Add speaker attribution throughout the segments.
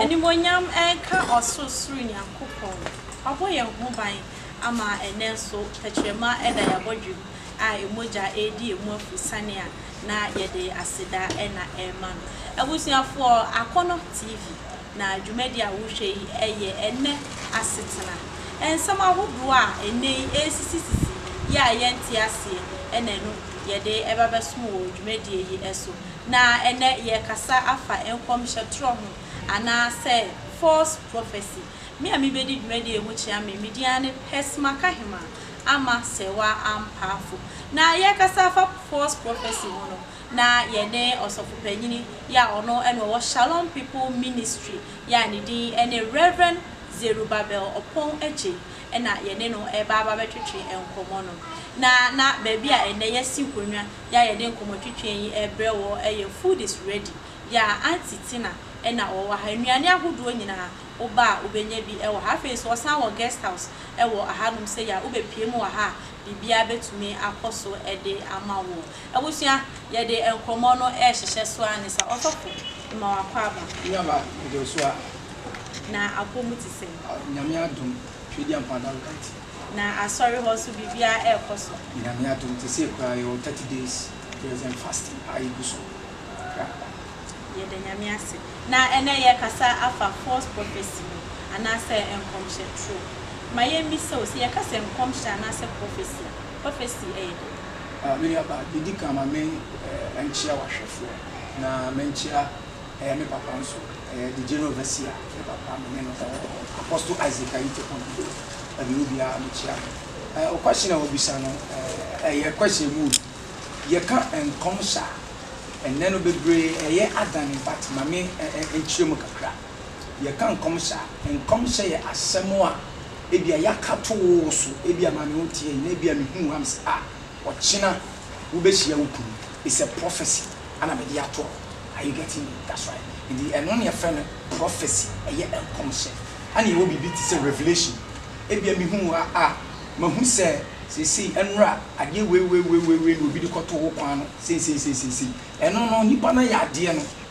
Speaker 1: Animuonyam nka Ɔsorosoro Nyankopɔn, Wabɔ yɛn ho ban ama ɛnnɛ nso tɛkyerɛma da yɛn abɔdwam a emu gya redi yɛn mu afurusiane a, na yɛde aseda na ɛrema No. Abusuafoɔ, Akɔnnɔ TV. na dwumadi a wohwɛ yi yɛ ɛnnɛ asetena nsɛm ahodoɔ a ɛnnɛ yi ɛresisisisi yɛ a yɛnte aseɛ na ɛno yɛde ɛba bɛsom wɔ dwumadie yi so. Na ɛnnɛ yɛrekasa afa nkɔmhyɛ torɔ ho anaa sɛ false prophecy. Me a mebɛdi dwumadie yi ho kyea me, me din ara ne Pɛsima Kahema, Ama Serwaa Ampaafo. Na yɛrekasa afa false prophecy ho no, na yɛne ɔsɔfopanyin yi a ɔno na ɔwɔ Shalom People Ministry yi a ne din ne Rev. Zerubbabel Opong Adjei na yɛne no reba aba abɛtwetwe nkɔmmɔ no. Na na baabi a ɛnnɛ yɛasi nkonnwa yi a yɛde nkɔmmɔtwetwe yi rebrɛ wɔ yɛ Food is Ready yi a Aunty Tina na ɔwɔ ha. Nnuane ahodoɔ nyinaa woba a wobɛnya bi wɔ ha. Afei nso wɔsan wɔ guest house wɔ hanom sɛi a wobɛpue mu wɔ ha a biribiara bɛtumi akɔ so de ama wo. Abusua, yɛde nkɔmmɔ no rehyehyɛ so ara ne sa. Ɔsɔfo, ma wakɔ aba. Me nuaba
Speaker 2: Joshua. Na apɔ
Speaker 1: mu te sɛn? Ah, Nyame adom,
Speaker 2: Twedi Ampa Ada Alright. Na asɔre
Speaker 1: hɔ nso biribiara ɛrekɔ so? Nyame adom, te
Speaker 2: sei koraa, yɛwɔ thirty days prayers and fasting a egu so prapra.
Speaker 1: Yɛda Nyame ase. Na ɛnnɛ yɛrekasa afa false prophecy ho, anaasɛ nkɔmhyɛ toro. Ma yɛmmisa o, sɛ yɛka sɛ nkɔmhyɛ anaasɛ prophecy a,
Speaker 2: Prophecy ɛyɛ dɛn? Ah, me nua ba, deɛ ɛdi kan ma me nkyea w'ahwɛfoɔ, na menkyea ɛɛ me papa nso, ɛɛ the General Overseer, me papa, me ne no da hɔ, Apostle Isaac Ayitepongo, ɛdeɛ obiara mekyea no. Ɛɛ wo question a wabisa no, ɛɛ ɛyɛ question mu o, yɛka nkɔmhyɛ a, ɛnnɛ no bebree ɛyɛ adane, but ma me nkyerɛ mu kakra. Yɛka nkɔmhyɛ a, nkɔmhyɛ yɛ asɛm a ebia yɛaka to wo so, ebia maame wo nteɛ yi na ebia mehuu wo a mese ah ɔkyena wobɛhyia wo kunu, it's a prophecy ɛna mede ato hɔ, are you getting me? That's right, nti ɛno na yɛfrɛ no prophecy, ɛyɛ nkɔmhyɛ. Ɛna yɛwɔ biribi te sɛ revelation, ebia mehuu wo a ah mahu sɛ seisei ɛnora adeɛ weiweiweiwei na obi de kɔtoo wo kwan no seiseiseisei, ɛno no nipa no ayɛ adeɛ no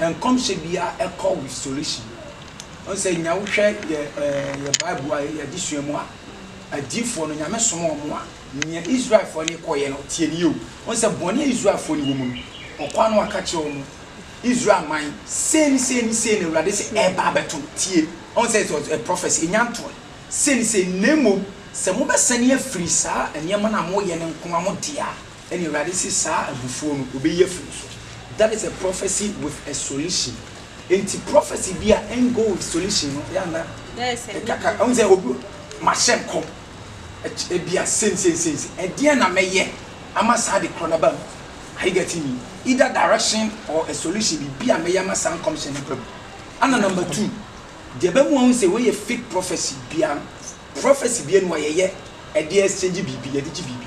Speaker 2: Nkɔmhyɛ biara kɔ restoration. Wohu sɛ nya wohwɛ yɛ yɛ bible a yɛde sua mu a, adiyifoɔ no Nyame somaa wɔn a, nea Israelfoɔ no kɔeɛ no tie nie o. Wohu sɛ bɔne a Israelfoɔ no wɔ mu no, ɔkɔ a na waka kyerɛ wɔn, Israel man, sei ne sei ne sei na Awurade se ɛreba abɛto no, tie. Wohu sɛ it was a prophecy, ɛnya ntoeɛ, sei ne sei, na mmom sɛ mobɛsane afiri saa nneɛma no a moyɛ no nko ara mo dea a, ɛna Awurade se saa abufuo no ɔbɛyi afiri wo so. That is a prophecy with a solution. Enti prophecy bi a en go with solution no yɛ a na ɛkaka,
Speaker 1: wohu sɛ obi,
Speaker 2: mahyɛ nkɔm, ɛky, ebia sei ne sei ne sei ne sei, ɛdeɛn na mɛyɛ ama saa ade korɔ no aba mu? Are you getting me? Either direction or a solution, biribi a mɛyɛ ama saa nkɔmhyɛ no aba mu. Ɛna number two, deɛ ɛba mu a wohu sɛ wei yɛ fake prophecy biara no, prophecy bi a ɛne wɔyɛyɛ ɛde exchange biribi, yɛde gye biribi.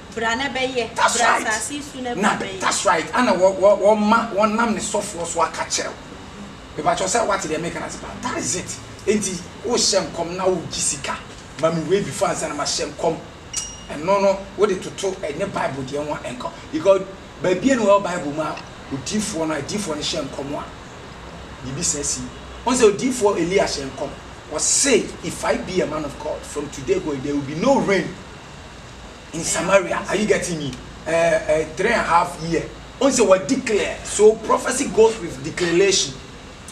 Speaker 1: Bra na bɛyɛ, That's bra right. asase so na Na bra bɛyɛ. that's right. Ana wɔ
Speaker 2: wɔ wɔma wɔnam ne sɔfoɔ so aka kyerɛ wo. Me pakyɛw sɛ wate deɛ meka no ase paa. That is it. Enti wohyɛ nkɔm na wogye sika ma me wei before ansa na mahyɛ nkɔm. Ɛno no wode toto ɛnyɛ bible deɛ ho a ɛnka ho. Because baabiara ni wɔ bible mu a odiifoɔ no adiifoɔ no hyɛ nkɔm a biribi saa si. Wohu sɛ odiifoɔ Elia hyɛɛ nkɔm. Ɔse if I be a man of God from today going there will be no rain. in Samaria are you getting me eh eh three and half year ohun sɛ wɔ declare so prophecy goes with declaration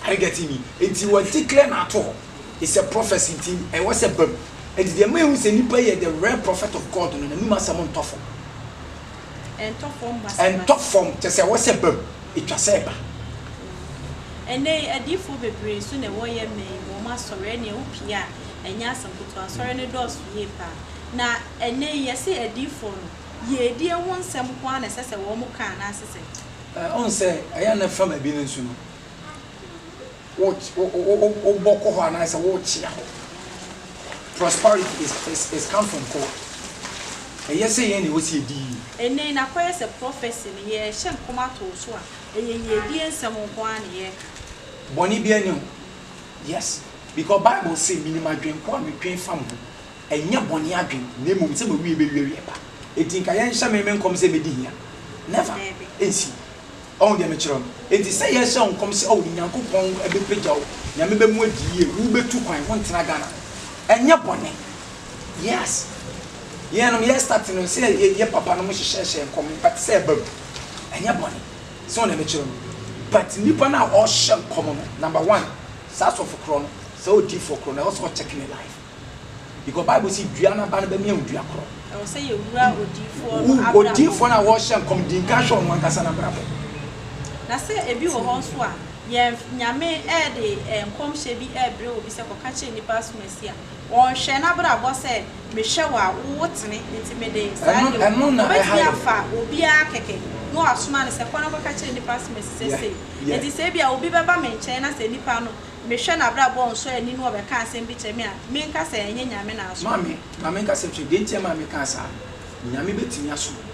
Speaker 2: are you getting me nti wɔ declare na ato hɔ is a prophecy nti ɛwɔ sɛ bam nti deɛ mɛ ehu sɛ nipa yɛ the real prophet of God no n'anum asɛm ntɔ fam ɛntɔ fam basabasa ɛntɔ fam kyɛ sɛ ɛwɔ sɛ bam etwa sɛ ɛba. Ɛnnɛ
Speaker 1: yi, adiyifoɔ bebree nso na wɔyɛ mmɛn wɔ wɔn asɔre, ɛnneɛ wopie a, ɛnyɛ asɛm ketewa, asɔre no dɔɔso yie paa. Na ɛnnɛ yi, yɛse adiyifoɔ no, yiedie ho nsɛm nko ara na ɛsɛ sɛ wɔka anaase sɛn? Ɛɛ, wohu sɛ ɛyɛ a
Speaker 2: na fa baabi no nso no, wo, wo, wobɔ kɔ hɔ anaasɛ wokyea hɔ. Prosperity is, is, is come from God. Ɛyɛ sɛ yɛn na ɛwɔ sɛ yɛdi yie. Ɛnnɛ yi, na akɔyɛ
Speaker 1: sɛ prophecy no, yɛrehyɛ nkɔm ato wo so a, ɛyɛ yiedie nsɛm nko ara na yɛreka. Bɔne biara
Speaker 2: nni ho. Yes, because Bible se, Menim adwene ko a metwɛn fa mo ho, Ɛnyɛ bɔne adwen, na mmom sɛ m'awiei bɛwie awiɛ pa. Enti nka yɛnhyɛ me me nkɔm sɛ mɛdi hia. Never! Ɛnsi. Ɔhu deɛ mekyerɛ no? Enti sɛ yɛrehyɛ wo nkɔm sɛ oh Nyankopɔn bɛpagya wo, Nyame bɛmu adi yie, wobɛtu kwan, wontena Ghana. Ɛnyɛ bɔne. Yes! Yɛnom yɛ start no sɛ yɛyɛ papa nom hyehyɛɛhyɛɛ nkɔm in fact sɛ ɛba mu. Ɛnyɛ bɔne. Sɛ wohu deɛ mekyerɛ no? But nnipa no a ɔrehyɛ nkɔm no, number one, saa sɔfo korɔ no, saa odiyifoɔ korɔ no, ɛwɔ sɛ ɔkyɛke ne life. Because Bible si dua no aba no bɛmia wo dua korɔ. Ɛwɔ sɛ yɛwura
Speaker 1: odiyifoɔ no abrabɔ. Odiyifoɔ no a wɔrehyɛ
Speaker 2: nkɔm di nka hwɛ ɔno ankasa no abrabɔ. Na
Speaker 1: sɛ ebi wɔ hɔ nso a, yɛn Nyame de nkɔmhyɛ bi rebrɛ obi sɛ kɔka kyerɛ nnipa asomasi a, ɔnhwɛ n'abrabɔ sɛ mehwɛ wo a wowo tene nti mede saa yɛ wo. Ɔbɛtumi afa obiara kɛkɛ na wasoma no sɛ kɔ na kɔka kyerɛ nnipa asomasi sɛ sei. Enti sɛ ebia obi bɛba me nkyɛn na sɛ nnipa no. Mehwɛ n'abrabɔ nsɔani no ɔbɛka asɛm bi kyerɛ me a, menka sɛ ɛnyɛ Nyame na asoma me. Maame, ma menka sɛ hwɛ,
Speaker 2: deɛ nti a ɛma mekaa saa, Nyame bɛtumi asoma wo,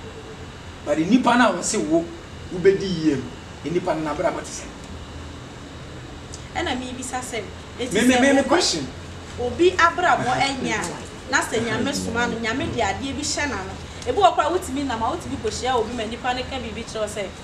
Speaker 2: but nnipa no a wɔse wo wobɛdi yie no, nnipa no n'abrabɔ te sɛn? Ɛna
Speaker 1: mebisa sɛ, enti
Speaker 2: sɛ obi obi
Speaker 1: abrabɔ nyɛ a, na sɛ Nyame soma no, Nyame de adeɛ bi hyɛ n'ano? Ebi wɔ hɔ koraa a wotumi nam a wotumi kɔhyia obi ma nipa no ka biribi kyerɛ wo sɛ,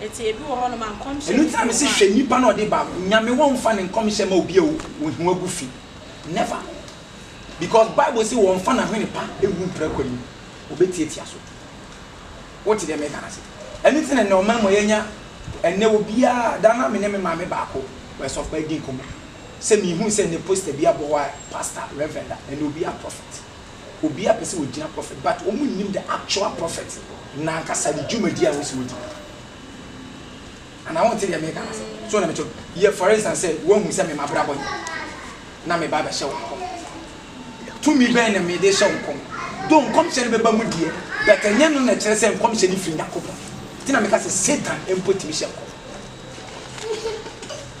Speaker 1: Eti ebi wɔ hɔnom a nkɔmhyɛ Ɛno nti na mese hwɛ nipa
Speaker 2: na ɔde baako. Nyame wɔnfa ne nkɔmhyɛ mma obi a ohiw agu fi. Never. Because Bible se wɔnfa n'ahwene pa ngu mpira kwan mu. Obetiatia so. Wote deɛ meka no ase? Ɛno nti na nnɛ ɔman mu a yɛanya nnɛ obiara daa na me ne me maame baako wɔ asɔfo adi nkɔmmɔ sɛ mehuu sɛ nnɛ poster bi abɔ hɔ a pastor, reverend, ɛnna obiara prophet. obiara pɛ sɛ ogyina prophet but wɔn nnim the actual prophet nankasa ne dwumadi a wɔsi wɔdi no anaa wɔn te deɛ meka no ase so na meto yɛ for instance sɛ wɔn hu sɛ me mabrabɔ yi na me ba bɛhyɛ wɔn kɔm tumi bɛn na me de hyɛ wɔn kɔm do nkɔmhyɛ no bɛba mu deɛ bɛtɛ nyɛ no na ɛkyerɛ sɛ nkɔmhyɛ no firi nyakopɔn ti na meka sɛ satan mpo tumi hyɛ nkɔm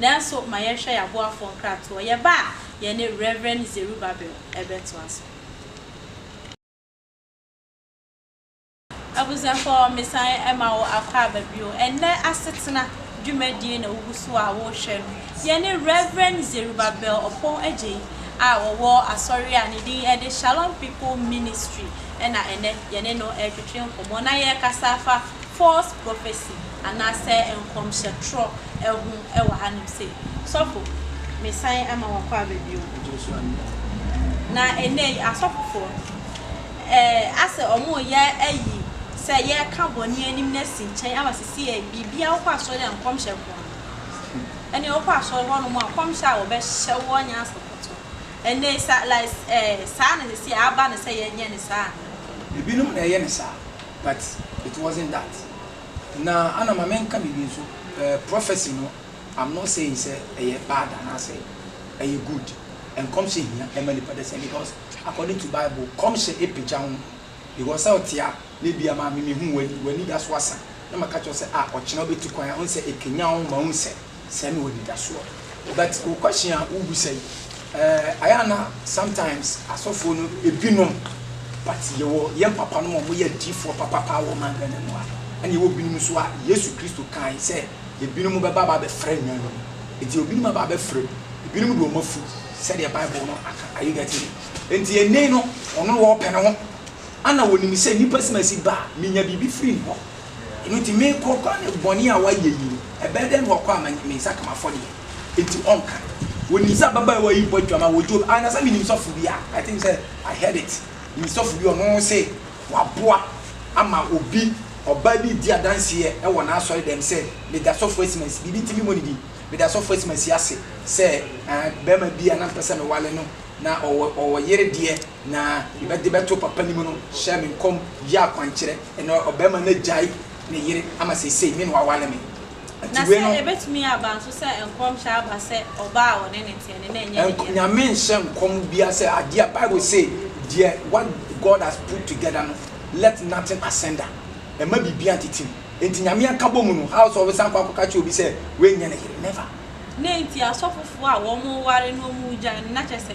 Speaker 1: Nanso ma yɛnhwɛ yɛn aboafoɔ nkratoɔ, yɛn ba a yɛne Rev. Zerubbabel bɛtoa so. Abusuafoɔ, mesan ma wo akwaaba bio. Ɛnnɛ asetena dwumadie na wogu so a worehwɛ no. Yɛne Rev. Zerubbabel Opong Adjei a ɔwɔ asɔre a ne din de Shalom People Ministry na ɛnnɛ yɛne no retwetwe nkɔmmɔ na yɛrekasa afa false prophecy anasɛ nkɔmhyɛ trɔ ɛho ɛwɔ anom sei. Sɔfo me san ama wakɔ aba bio na ɛnɛ yi asɔfofoɔ ɛɛ asɛ ɔmo yɛ ayi sɛ yɛka bɔne anim na asi nkyɛn ama sisi ɛɛ biribiaa wokɔ asɔre a nkɔmhyɛ nkoaa ɛnɛ wokɔ asɔre hɔ nom a nkɔmhyɛ a wɔbɛ hyɛ woɔ nyɛ asɛ kɔtɔ ɛnɛ yi sa like ɛɛ saa na sisi ɛɛ aba no sɛ yɛnyɛ no saa anaa. Ebinom na ɛyɛ
Speaker 2: no saa. But it wasn't that na ana ma menka biribi nso eh, prophecy no I'm not saying sɛ ɛyɛ bad anaasɛ ɛyɛ good, nkɔmhyɛ hia ɛma nipa dasani because according to bible kɔmhyɛ ɛpagya honhom because sɛ ɔte a na ebia maame mehu w'ani, w'ani da so asa na maka kyerɛ wo sɛ ah ɔkyena wobɛtu kwan a wohu sɛ ɛkanyan wo ma wohu sɛ. Sɛ mewɔ anidasoɔ but wo question a wo bisa yi eh ayɛ a na sometimes asɔfoɔ no ebinom but yɛwɔ yɛn papa nom a wɔn yɛ adiifoɔ papapaa wɔ ɔman Ghana mu a ɛna yɛwɔ binom nso a Yesu Kristo kae sɛ ebinom bɛba aba abɛfrɛ nyan nom nti ebinom aba abɛfrɛ mu ebinom de wɔn afu sɛdeɛ bible no aka are you getting me nti ene no ɔno na ɔpɛ ne ho ɛna ɔnim sɛ nipa simasi ba a menya biribi firi ne hɔ. Ɛno nti, merekɔ koraa ne bɔne a wayɛ yi, ɛbɛyɛ dɛn na wakɔ a manya, me nsa ka m'afɔdeɛ? Enti ɔnka. Wɔnim sɛ ababaawa yi bɔ dwammaa wɔ Job, ah, na sɛ menim sɔfo bi a, I think sɛ I heard it, menim sɔfo bi a ɔno se waboa ama obi, ɔbaa bi redi adanseɛ wɔ n'asɔredɛm sɛ, meda sɔfo Asimansi, biribi nti memmɔ ne din, meda sɔfo Asimansi ase sɛ, ah, barima bi a na mepɛ sɛ mewale no, na ɔwɔ, ɔwɔ yere deɛ, na ne ba de bɛto papa no mu no hyɛɛ me nkɔm yɛɛ akwankyerɛ, ɛnna ɔbarima no agyae ne yere ama seesei me na waware me. Enti Na wei sɛ no,
Speaker 1: ebetumi aba nso sɛ nkɔmhyɛ aba sɛ ɔbaa a ɔne no teɛ no na ɛnyɛ ne nk dea. Nyame nhyɛ nkɔm
Speaker 2: biara sɛ adeɛ a Bible se deɛ what God has put together no let nothing asunder. Ɛmma biribiara ntetem. Enti Nyame anka bɔ mu no how sɛ ɔbɛsan akɔ akɔka akyerɛ obi sɛ wei nyɛ ne yere. Never. Nea enti
Speaker 1: asɔfofoɔ a wɔware no wɔgyae no na kyerɛ sɛ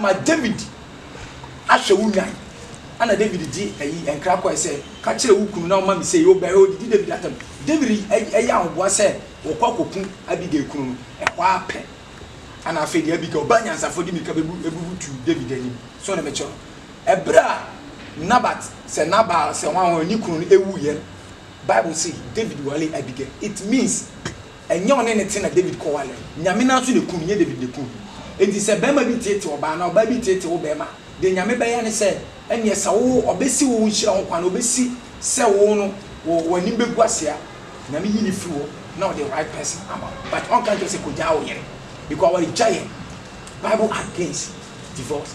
Speaker 2: Ma Dawid ahwɛ wo nnwan. Ɛnna Dawid de ayi nkra kɔe sɛ, Ka kyerɛ wo kunu na ɔmma me sei. Ɔbaa hɔ, odidi Dawid atɛm. Dawid yɛɛ ahoboa sɛ wɔkɔ akokum Abigail kunu no. Ɛhɔ ara pɛ, ɛnna afei de Abigail ba nyansafo de mmirika bebutuw Dawid anim. So na mekyerɛ no? Bere a Nabat, sɛ Nabal, sɛ hwanhwan, ne kunu no wuiɛ no, Bible se Dawid waree Abigail. It means. Ɛnyɛ ɔne no te na David kɔware. Nyame no ara nso na ɛku no, nyɛ David na ɛku no. Enti sɛ barima bi teetee ɔbaa anaa ɔbaa bi teetee wo barima a, deɛ Nyame bɛyɛ ne sɛ, ɛnneɛ sɛ wowo, ɔbɛsi wo nhyira ho kwan, ɔbɛsi sɛ wowo no, wo, w'anim bɛgu ase a, Nyame yi no firi hɔ na ɔde right person ama wo. But ɔnka nkyerɛ wo sɛ kɔgyaa wo yere, because awaregyaeɛ, Bible against divorce.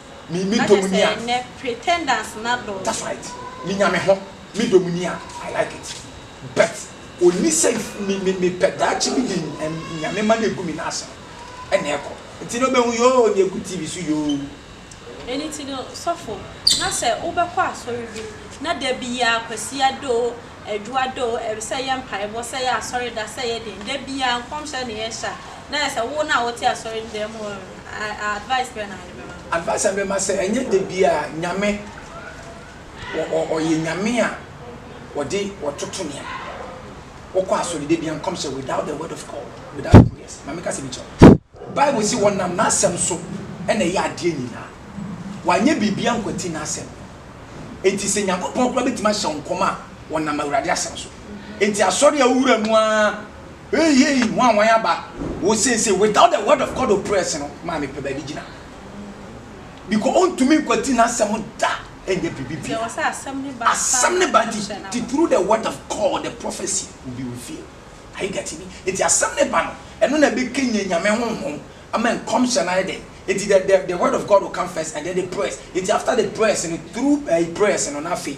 Speaker 2: me me dɔ mu ni a. Na kyɛ sɛ nnɛ pretenders
Speaker 1: no adɔɔso. That's right, me nya
Speaker 2: me ho, me dɔ mu ni a, I like it but onni sɛ me me me pɛ daakye bi de Nyame ma no egu me nan ase no ɛna ɛkɔ. Nti na ɔbɛhu yoo nea egu TV so yoo. Ɛno nti no
Speaker 1: sɔfo, na sɛ wo bɛkɔ asɔre bi na da biaa Kwasi Addo o, Adwo Addo o, ɛwɛ sɛ yɛ mpaebɔ, sɛ yɛ asɔre da, sɛ yɛ den, da biaa nkɔmhyɛ na yɛ hyɛ a, na ayɛ sɛ wo na wo te asɔre no dan mu oo, advice bɛn na. Advice a mɛma sɛ ɛnyɛ
Speaker 2: da biaa Nyame ɔyɛ Nyame a ɔde ɔtoto nneɛma. Wokɔ asɔre da biaa nkɔm sɛ without the word of God without prayers ma meka sɛ bi kyerɛ wo. Bible se ɔnam n'asɛm so na ɛyɛ adeɛ nyinaa. Wanyɛ biribiaa nkwati n'asɛm. Enti sɛ Nyankopɔn koraa bɛtumi ahyɛ wo nkɔm a ɔnam Awurade asɛm so. Enti asɔre a wo wura mu aa Hey hey hu a wan aba wo seesei without the word of God opress no maa me pɛ baabi gyina because ontumi nkwati n'asɛm da ɛnyɛ biribi bia
Speaker 1: asɛm ne ba
Speaker 2: nti through the word of God the prophecy will be revealed are you getting me nti asɛm ne ba no ɛno na ɛbɛ kɛnyɛ nyame honhom ama nkɔmhyɛ no ayɛ dɛ nti the the the word of God will come first and then the prayers nti after the prayers no through uh, prayers no na afei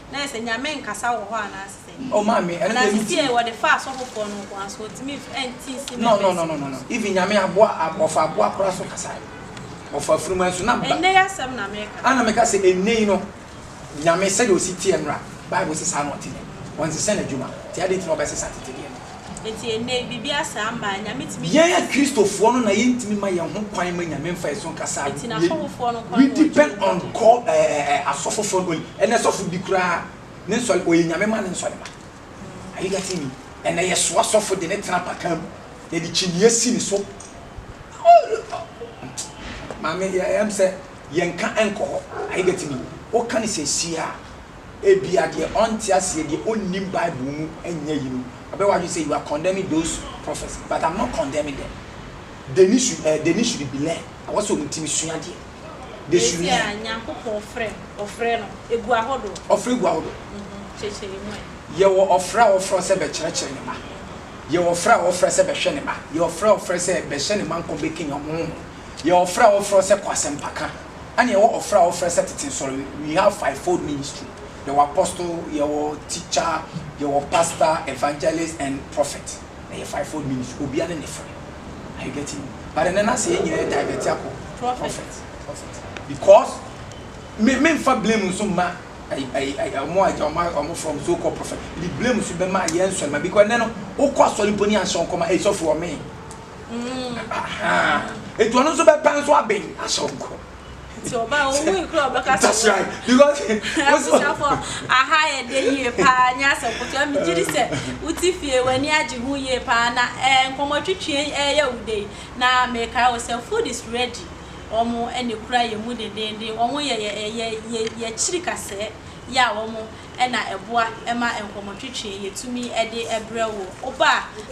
Speaker 1: na ayɛ sɛ Nyame nkasa wɔ hɔ anaa sɛ. Oh maame ɛno deɛ mentim.
Speaker 2: Anaseɛ wɔde fa
Speaker 1: asɔfofoɔ no nkoa so ɔntumi nf ɛnte nsi no ɛbɛsi. No no no no even
Speaker 2: Nyame aboa ɔfa aboa koraa so kasae ɔfa afunumu nso na. Ɛnɛ yi asɛm na meka. Ana meka sɛ
Speaker 1: ɛnɛ
Speaker 2: yi no Nyame sɛdeɛ ɔsi
Speaker 1: teɛ
Speaker 2: no a bible se saa na ɔte nnɛ ɔnsesa nadwuma nti adɛn nti na ɔbɛsesa tete deɛ no. Enti ɛnnɛ
Speaker 1: yi, biribi asa ama a Nyame tumi de. Yɛn akristofoɔ no
Speaker 2: na yɛntumi mma yɛn ho kwan mma Nyame mfa yɛn so nkasa a, Enti n'asɔfofoɔ no
Speaker 1: nkoa we na wɔgye depend wɔn on di.
Speaker 2: God, eh, eh, eh, asɔfofoɔ no only, ɛnnɛ sɔfo bi koraa ne nsɔre, ɔyɛ Nyame ma ne nsɔre ma, are you getting me, ɛnnɛ yɛsoa sɔfo de no tena apakan mu, yɛde kyiniiɛ si ne so, Maame, yɛ, ɛm sɛ yɛnka nkɔ hɔ, are you getting me, woka no seesei a, Ebia deɛ ɔnte aseɛ, deɛ ɔnnim Bible mu nyɛ yinom. Ɔbɛyɛ w'adwene sɛ you are condemning those prophets but I'm not condemning them. They need should eh, they need should be learn. Ɛwɔ sɛ wɔn tumi sua adeɛ. They should Seesei a learn. Nyankopɔn frɛ,
Speaker 1: ɔfrɛ no, egu ahodoɔ. Ɔfrɛ gu ahodoɔ. Mhm,
Speaker 2: Kyekyɛ emu
Speaker 1: ɛ. Yɛwɔ ɔfrɛ a
Speaker 2: wɔfrɛ wo sɛ bɛkyerɛkyerɛ Ne mma. Yɛwɔ ɔfrɛ a wɔfrɛ sɛ bɛhwɛ Ne mma. Yɛwɔ ɔfrɛ a wɔfrɛ sɛ bɛhyɛ Ne mma nkɔm, bɛkanyan wɔn honhom. Yɛwɔ ɔfrɛ a wɔfrɛ wo sɛ kɔ asɛmpaka. Ɛna yɛwɔ ɔfrɛ a wɔfrɛ sɛ tete nsɔre we have five fold ministry yɛwɔ apostle yɛwɔ teacher yɛwɔ pastor evangelist and prophet ɛyɛ five fold ministry obia ne ne frɛ are you getting me but ɛnɛ na sɛ yɛn nyinaa divert akɔ prophet prophet because me me nfa blame nso mma ɔmo agya ɔmo ɔmo from so called prophet the blame nso bɛma yɛn nsɔre ma because ɛnɛ no wokɔ asɔre mpo ne anhyɛ nkɔma ɛsɔfo ɔme. nti ɔno nso bɛpɛ nso abɛn ahyɛ wo nkɔ nti ɔba owu nkura ɔbɛka sɛ that's right because abusuafo aha
Speaker 1: yɛ de yie paa nyɛ asɛm kotoa megye di sɛ wote fie w'ani agye ho yie paa na ɛɛ nkɔmmɔtwitwi ɛyɛ wo dɛ na mekae wɔ sɛ food is ready wɔn ɛna kura yɛ mu dendenden wɔn yɛ yɛ yɛ yɛ yɛkyiri kasɛɛ yɛ a wɔn na ɛboa ma nkɔmmɔtwetwe yɛtumi de brɛ wo oba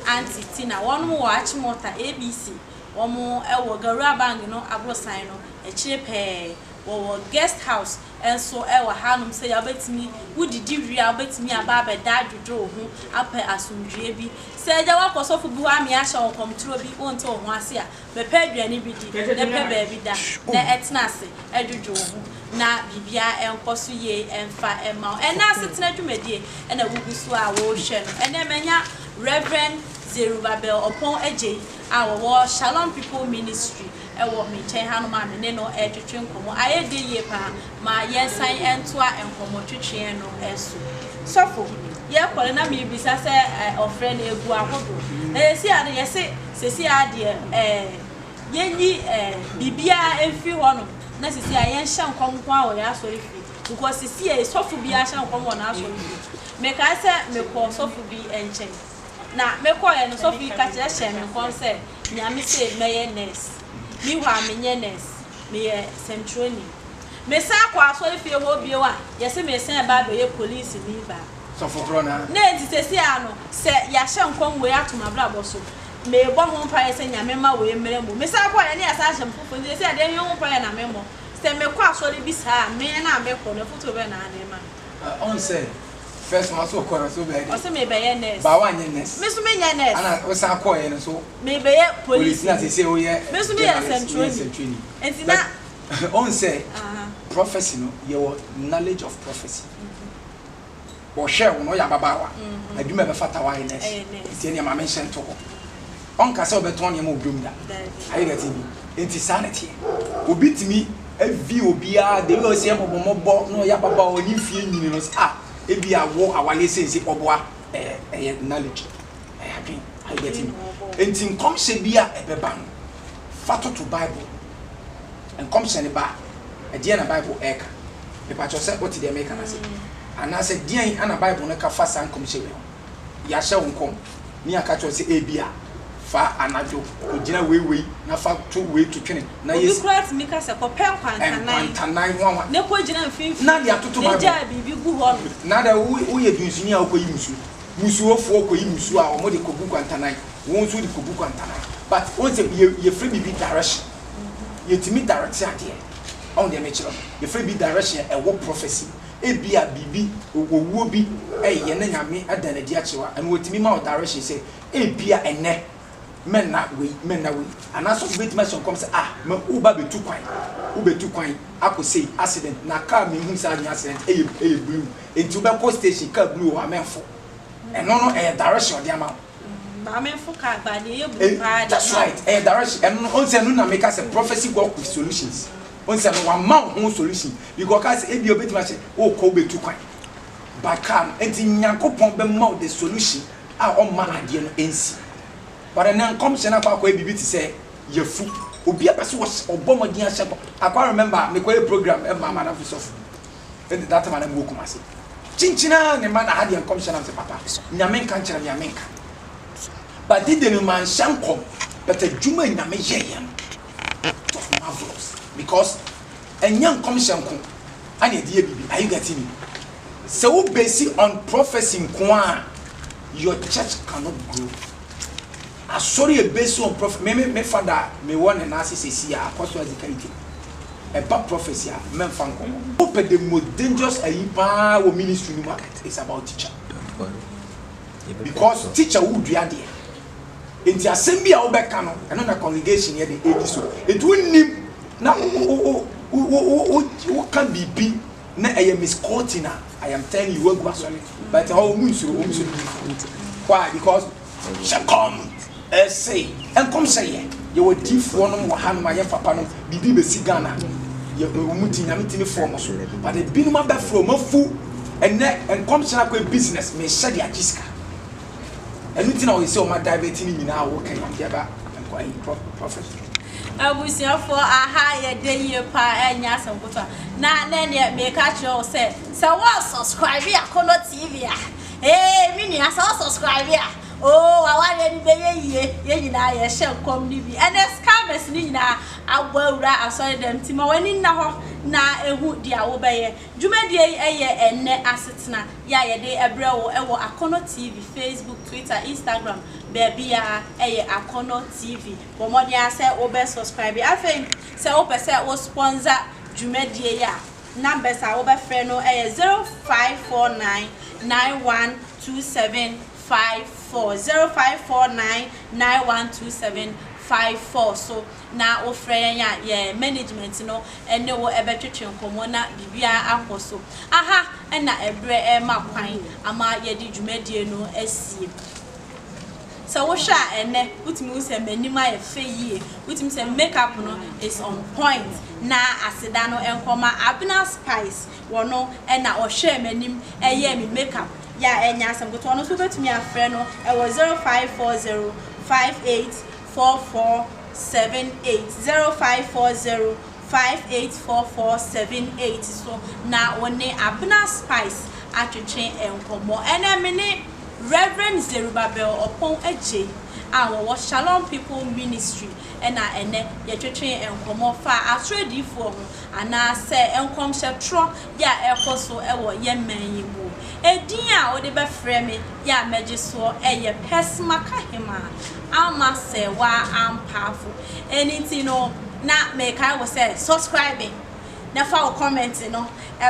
Speaker 1: a aunty Tina wɔnom wɔ Achimota ABC wɔn wɔ Garuabang no aborosan no akyire pɛɛ wɔwɔ guest house nso wɔ hanom sɛdeɛ wobɛtumi wo didi wie a wobɛtumi aba abɛda adwodwo wo ho apɛ asomdwoeɛ bi sɛ agya woakɔ sɔfo bi hɔ amea ahyɛ wo nkɔmtorɔ bi wonte wo ho ase a Mepɛ aduane bi di, na pɛ baabi da, na tena ase dwodwo wo ho na biribiara nkɔ so yie mfa mma wo. Ɛnnɛ asetena dwumadie na wogu so a worehwɛ no. Ɛnnɛ manya Rev. Zerubbabel Oppong Adjei a ɔwɔ Shalom People Ministry wɔ me nkyɛn hanom a me ne no retwetwe nkɔmmɔ. Ayɛ dɛ yie pa ara. ma yɛnsan ntoa nkɔmmɔtwetweɛ no so. Sɔfo, yɛkɔ no na mebisa sɛ ɔfrɛ no agu ahodoɔ. Na seesei ara no yɛse seesei ara deɛ yɛnyi biribiara mfiri hɔnom na seesei ara yɛnhyɛ nkɔm nko ara wɔ yɛn asɔrefie. Because seesei ara yi sɔfo biara hyɛ nkɔm wɔ n'asɔrefie. Mekae sɛ mekɔɔ sɔfo bi nkyɛn. Na mekɔeɛ no sɔfo yi kakyerɛ hyɛɛ me nkɔm sɛ. Nea mise mɛyɛ nurse. Nni hɔ a menyɛ nurse, meyɛ sɛnkyerɛni. Mesan kɔ asɔrefie hɔ bio a, yɛse meresan ba abɛyɛ polisini baa.
Speaker 2: Ne nti seesei ara
Speaker 1: no, sɛ yɛahyɛ nkɔm wei ato m'abrabɔ so, mebɔ ho mpaeɛ sɛ Nyame mma wei mmrɛ mu. Mesan kɔ a, yɛne yɛasan ahyɛ me foforɔ nti seesei ara deɛ ɛhe ho mpaeɛ na memmɔ? Sɛ mekɔ asɔre bi saa a, mean a mekɔ no, afotuo bɛn na ade rema me?
Speaker 2: First one so kɔrɔ so bɛyɛ dɛ. Ɔse mebɛyɛ nurse. Ba
Speaker 1: wanyɛ nurse. Me so
Speaker 2: menyɛ nurse. Ana
Speaker 1: wosan kɔɔ yɛ no
Speaker 2: so. Mebɛyɛ police ni.
Speaker 1: Police na sese woyɛ. Me
Speaker 2: so meyɛ sɛntroni. Woyɛ
Speaker 1: sɛntroni. Nti na. But ohun sɛ
Speaker 2: prophecy no yɛ wɔ knowledge of prophecy. Ɔhwɛɛ wo no woyɛ ababaawa. Adwuma a ɛbɛfata wo ayɛ nurse. Ɛyɛ nurse. Nti ɛneɛ ma me nhyɛ nto hɔ. ɔnka sɛ ɔbɛtɔn nneɛma wɔ dwom da. Ayɛ deɛ ɛteɛ bi. Enti saa na ɛteɛ. Obi tumi vie obiara, the way ɔsi ɛmɔbɔ mɔbɔ na ɔyɛ ababaawa ɔne mfie nyini no, ah, ebia wo awareɛ sense ɔboa, ɛyɛ, ɛyɛ knowledge, ɛyɛ adwen. Are you getting me? Enti nkɔmhyɛ bi a ɛbɛba no, fa toto Bible. Nkɔmhyɛ no ba a, ɛdeɛn na Bible ɛreka? Mepa kyɛw sɛ wote deɛ mereka no ase? Anaasɛ deɛn na Bible no ka fa saa nkɔmhyɛ wei ho? Yɛahyɛ wo nkɔm na yɛaka akyerɛ wo sɛ ebia fa anadwo kogyina wei wei na fa to wei to twene na yɛ. Obi koraa tumi ka sɛ, Kɔpɛ
Speaker 1: nkwantanan. Nkwantanan ho anwa. Na kogyina
Speaker 2: mfimfini. Na
Speaker 1: de atoto
Speaker 2: Bible.
Speaker 1: Na gyaa biribi gu hɔnom. Na dɛ woyɛ
Speaker 2: dunsini a wokɔyi mmusu. Mmusuofoɔ kɔyi mmusu a wɔde kɔgu nkwantanan. Wo nso wode kɔgu nkwantanan. But wohu sɛ yɛ yɛfrɛ biribi direction. Yɛtumi directe adeɛ. Woahu deɛ mekyerɛ no? Yɛfrɛ biribi direction a ɛwɔ prophecy mu. Ebia biribi, owuo bi reyɛ na Nyame ada no adi akyerɛ wo a, ɛno watumi ma wo direction sɛ, ebia ɛnnɛ mɛnna wei, mɛnna wei. Anaasɛ obi bɛtumi ahyɛ nkɔm sɛ, ah, ma woreba abɛtu kwan, wobɛtu kwan akɔ sei, accident, na car menhunu sɛ anyɛ accident, ɛyɛ, ɛyɛ blue, enti wobɛkɔ station, car blue wɔ hɔ a, mɛmfo. Ɛno no, ɛyɛ direction a ɔde ama wo. Maamefo
Speaker 1: kaa paa deɛ ɛyɛ blue paa deɛ. That's right ɛyɛ direction
Speaker 2: ɛno no ɔnsɛ ɛno na meka sɛ prophecy work with solutions ɔnsɛ no wama wo ho solution because ɔkaa sɛ ebia obetumi ahyɛ wokɔ wobetu kwan but kaa no nti Nyankopɔn bɛma wo the solution a ɔmma adeɛ no nsi but ɛnɛ nkɔmhyɛ no akɔ akɔyɛ biribi te sɛ yafu obi apɛ sɛ ɔbɔ mmɔden ahyɛ nkɔ akɔ remember mekɔyɛ program ɛma amanafo sɔfo de date ma no agu okum ase kyinkyin ara ne ma na ha deɛ nkɔmhyɛ nam sɛ papa nyame nka nkyerɛ me a menka but de deɛ no manhyɛ nkɔm but adwuma nyame yɛyɛ no it was marvelous because ɛnyɛ nkɔmhyɛ nko ana ɛde yɛ biribi are you getting me sɛ wo base on prophecy nko a your church cannot grow asɔre yɛ base on prophecy me me me fada me wɔ ne nan ase sɛ si a akɔso azikari tɛm ɛba prophecy a mɛnfa nkɔmɔ. Wopɛ the most dangerous ayi paa wɔ ministry no mu a it's about teacher. Because teacher wo dua deɛ nti asɛm bi a wo bɛ ka no ɛno na congregation yɛ de edi so nti wo nnim na wo ka biribi na ɛyɛ misquoting a I am telling you wo agu asɔre but ɛhɔ ɔmo nsuro ɔmo sɛ ɔmo nni fɔ why because Hyɛ nkɔm se, nkɔm sɛ yɛ yɛwɔ adiyifoɔ nom wɔ ha nom a yɛ mfapa nom biribi bɛsi Ghana yɛ ɔmo ti Nyame tumi fɔɔ ɔmo so but ebinom abɛfrɛ ɔmo afu ɛnɛ nkɔm sɛ akɔɛ business mehyɛ de agye sika ɛno nti na ɔyɛ sɛ ɔmo adivert ne nyinaa wɔ kɛn ɔmo de aba nkɔ ayi prophet. Abusuafoɔ
Speaker 1: aha yɛ dɛ yie paa ɛnyɛ asɛm kotoa na nɛ neɛ meka kyerɛ wo sɛ sɛ woansubscribe Akɔnɔ TV a Hey me nua sɛ wo subscribe a oo w'awareɛ no bɛyɛ yie yɛn nyinaa yɛhyɛ nkɔm no bi ɛnɛ scammers no nyinaa abɔ awura asɔredɛm nti ma w'ani nna hɔ na ɛhu deɛ wobɛyɛ dwumadie yi ɛyɛ ɛnɛ asetena yɛ a yɛde ɛbrɛ wo ɛwɔ Akɔnɔ TV Facebook Twitter Instagram baabiara ɛyɛ Akɔnɔ TV bɔ mmɔden ara sɛ wobɛ subscribe afei sɛ wopɛ sɛ wo sponsor dwumadie yi a. numbers a wobɛfrɛ no yɛ zero five four nine nine one two seven five four zero five four nine nine one two seven five four so na wofrɛ yɛn a yɛ management no ne wo ɛbɛtwetwe nkɔmɔ na biribiara akɔ so aha ɛna ɛbrɛ ɛma kwan ama yɛde dwumadie no asie. Sɛ wohwɛ a ɛnnɛ wotumi hu sɛ m'anim ayɛ fɛ yie, wotumi hu sɛ me make up no is on point na aseda no nkɔ ma Abena Spice, ɔno na ɔhwɛɛ m'anim yɛɛ me make up yɛ a ɛnyɛ asɛm ketewa, ɔno nso wobɛtumi afrɛ no wɔ 0540 58 44 78, 0540 584478 so na wo ne Abena Spice atwetwe nkɔmmɔ. Ɛnnɛ me ne Rev. Zerubbabel Oppong Adjei a wɔwɔ Shalom People Ministry na ɛnnɛ yɛtwetwe nkɔmmɔ faa atoro adiyifoɔ ho anaa sɛ nkɔmhyɛ torɔ bi a ɛrekɔ so wɔ yɛn man yi mu. Edin a wode bɛfrɛ me yɛ a mɛgye soɔ yɛ Pɛsmakahemaa Alma Serwaa Ampaafo. Ɛno nti no na mekae wo sɛ subscribe na fa wo comment no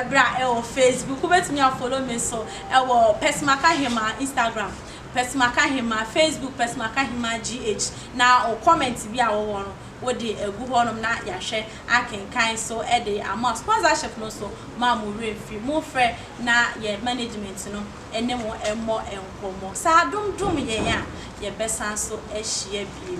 Speaker 1: bra wɔ Facebook. Wobɛtumi a follow me nso wɔ Pɛsmakahema Instagram, Pɛsmakahema Facebook, Pɛsmakahema GH na wo comment bi a wowɔ no wode agu hɔnom na yɛahwɛ akenkan nso de ama wo. Sponsorship no nso ma mo werɛ mfi. Momfrɛ na yɛn management no ne mo mmɔ nkɔmmɔ. Sɛ adom dom yɛn a, yɛbɛsan nso ahyia bio.